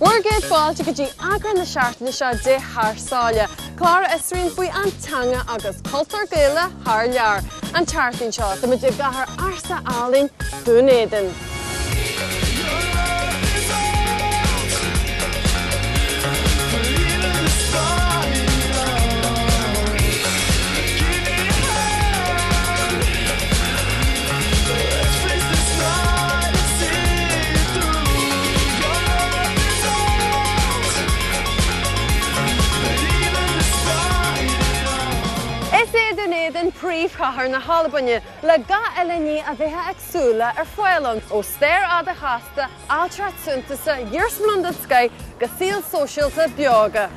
Bhur gcéad fáilte go dtí eagrán na seachtaine seo de Thar Sáile, clár a fhiosraíonn faoin teanga agus cultúr Gaelach thar lear. An tseachtain seo, táimid i gcathair ársa Alban Dún Éideann. Is é Dún Éideann príomhchathair na hAlbaine, le gach uile ní a bheifeá ag súil leis ar fáil ann, ó stair fhada chasta ailtireacht shuntasach iarsmalanna den scoith go saol sóisialta beoga.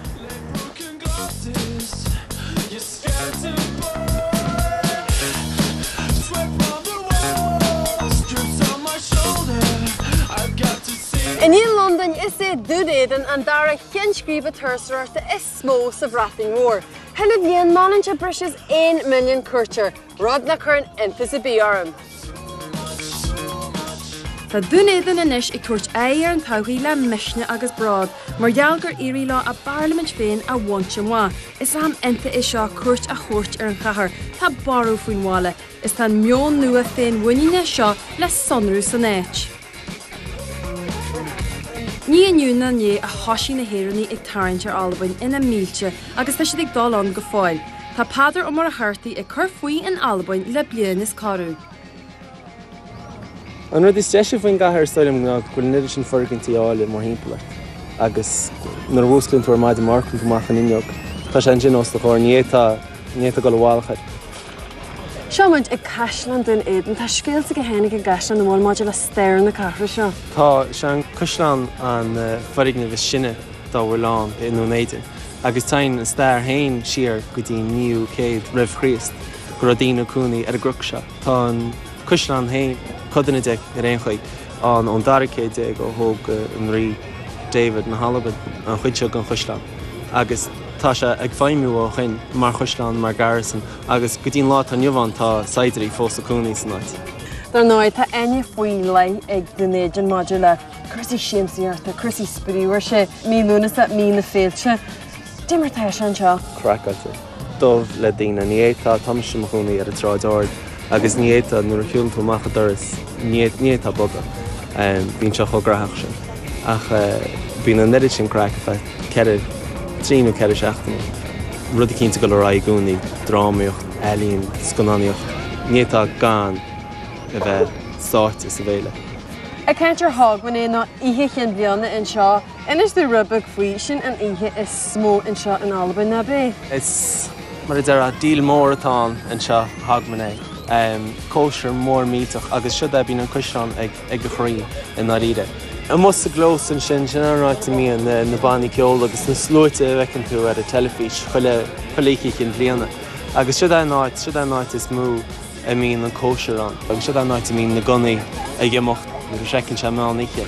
I ndiaidh Londain is é Dún Éideann an dara ceann scríbe turasóireachta is mó sa Bhreatain Mhór. Chuile bhliain meallann sí breis is 1 milliún cuairteoir. Rud nach cuireann iontas ar bith orm. Tá Dún Éideann anois ag tabhairt aghaidh ar an todhchaí le misneach agus bród mar gheall gur éirigh leo a bparlaimint féin a bhaint amach. Is am iontach é seo cuairt a thabhairt ar an chathair, tá borradh faoin bhaile, is tá an meon nua féinmhuiníne seo le sonrú san áit. Ní inniu ná inné a thoisigh na hÉireannaigh ag tarraingt ar Albain ina mílte agus tá siad ag dul ann go fóill. Tá Peadar Ó Muircheartaigh ag cur faoi in Albain le bliain is corradh. An rud is deise faoin gcathair is dóigh liom ná go bhfuil an oiread sin foirgintí áille mórthimpeall ort agus nuair a mhúsclaíonn tú ar maidin amharcann tú amach an fhuinneog, tá sé ansin os do chomhair, ní fhéadfá dul i bhfolach air. Seo muid ag Caisleán Dún Éideann. Tá scéalta go leor ag an gcaisleán nach bhfuil maidir le stair na cathrach seo. Tá, is é an caisleán an foirgneamh is sine dá bhfuil ann i nDún Éideann agus téann an stair héin siar go dtí an 9ú céad roimh Chríost go raibh daoine ag cónaí ar an gcnoc seo. Tá an caisleán héin, codanna de ar aon chaoi, ann ón 12ú céad ó thóg an Rí David na hAlban an chuid seo den chaisleán agus, Tá sé ag feidhmiú ó shoin mar chaisleán, mar garrison agus go dtí an lá atá inniu ann tá saighdiúirí fós ag cónaí san áit. Dar ndóigh, tá aithne faoi leith ag Dún Éideann maidir le cúrsaí siamsaíochta, cúrsaí spraoi, óir is é, mí Lúnasa, mí na féilte. Cad é mar atá sé anseo. craiceáilte dubh le daoine. Ní fhéadfá, tá mise i mo chónaí ar an tSráid Ard agus ní fhéadfá, nuair a shiúlann tú amach an doras, ní fhéadfá bogadh, bíonn sé chomh gnaitheach sin. Ach bíonn an oiread sin craic, in fact. ceithre, trí nó ceithre seachtaine. Rud eicínt ag dul ar aghaidh i gcónaí, drámaíocht, ealaín, scannánaíocht, níl tú gan a bheith sáite sa bhFéile. Ag caint ar Hogmanay nó Oíche Chinn Bhliana anseo. Inis dúinn rud beag faoi, sin an oíche is mó anseo in Albain, nach b'é? Is mar a déarfá, deal mór atá ann anseo, Hogmanay. Cóisir mhór millteach agus sea, bíonn an caisleán ag. ag a chroí i ndáiríre. Amuigh sa gclós ansin, sin an áit a mbíonn na bannaí ceoil agus na sluaite a bhfeiceann tú ar an teilifís chuile oíche chinn bhliana. Agus siod é an áit is mó a mbíonn an cóisir ann. Agus siod é an áit a mbíonn na gunnaí ag imeacht nuair a shroicheann sé meán oíche.